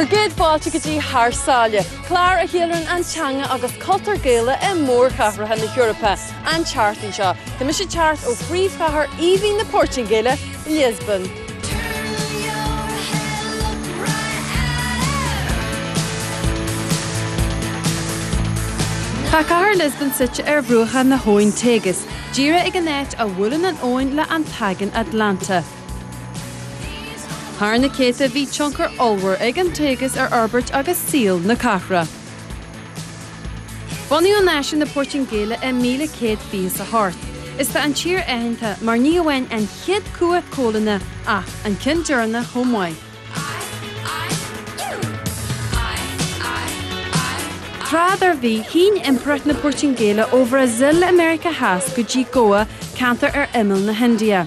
Bhur gcéad fáilte go dtí Thar Sáile, clár a cheiliúrann an teanga agus cultúr Gaelach i mórchathracha na hEorpa. An tseachtain seo, tá mise ag teacht ó phríomhchathair aoibhinn na Portaingéile, Liospóin. Tá cathair Lisbon suite ar bhruacha na habhainn Tagus, díreach ag an áit a bhuaileann an abhainn le an tAigéan Atlantach. Thar na céadta bhí tionchar ollmhór ag an Tagus ar fhorbairt agus saol na cathrach. Bunaíodh náisiún na Portaingéile i 1128 is tá an tír aitheanta mar ní amháin an chéad cumhacht coilíneach ach an ceann deireanach chomh maith. Tráth dár bhí, shín Impireacht na Portaingéile ó Bhrasaíl i Meiriceá Theas go dtí Goa, ceantar ar imeall na hIndia.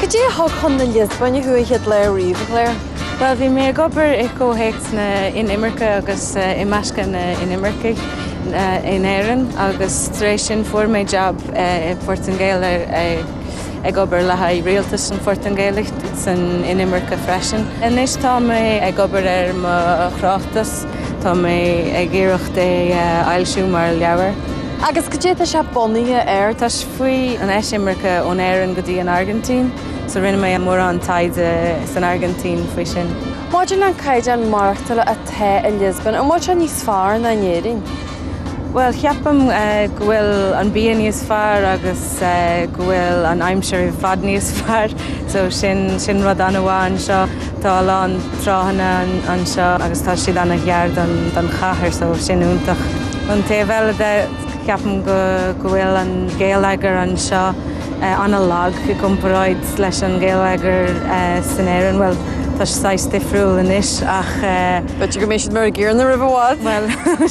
Cad é a thug chun na Liospóine thú an chéad lá riamh, a Chlaire? Bhuel, bhí mé ag obair i gcomhthéacs na n-inimirce agus imeascadh na n-inimircigh in Éirinn agus tar éis sin fuair mé jab i bPortaingéil ag obair le haghaidh rialtas an Phortaingéil san inimirce freisin. Anois tá mé ag obair ar mo thráchtas. Tá mé ag iarracht é a fhoilsiú mar leabhar. Agus cad é tá sé bunaithe air? Tá sé faoi an eisimirce ón Éirinn go dtí an Airgintín, so rinne mé mórán taighde san Airgintín faoi sin. Maidir le an caighdeán maireachtála atá i Lisbon, an bhfuil sé níos fearr ná in Éirinn? Bhuel, ceapaim go bhfuil an bia níos fearr agus go bhfuil an aimsir i bhfad níos fearr, so sin, sin rud ana-mhaith anseo. Tá a lán tránna anseo agus tá siad ana-ghar don, don chathair so sin iontach. Ón taobh eile de, ceapaim go, go bhfuil an geilleagar anseo ana-lag i gcomparáid leis an ngeilleagar san Éirinn, bhuel, tá sé saghas difriúil anois ach eh. B'fhéidir go mbeidh siad mar a gcéanna roimh i bhfad! Bhuel.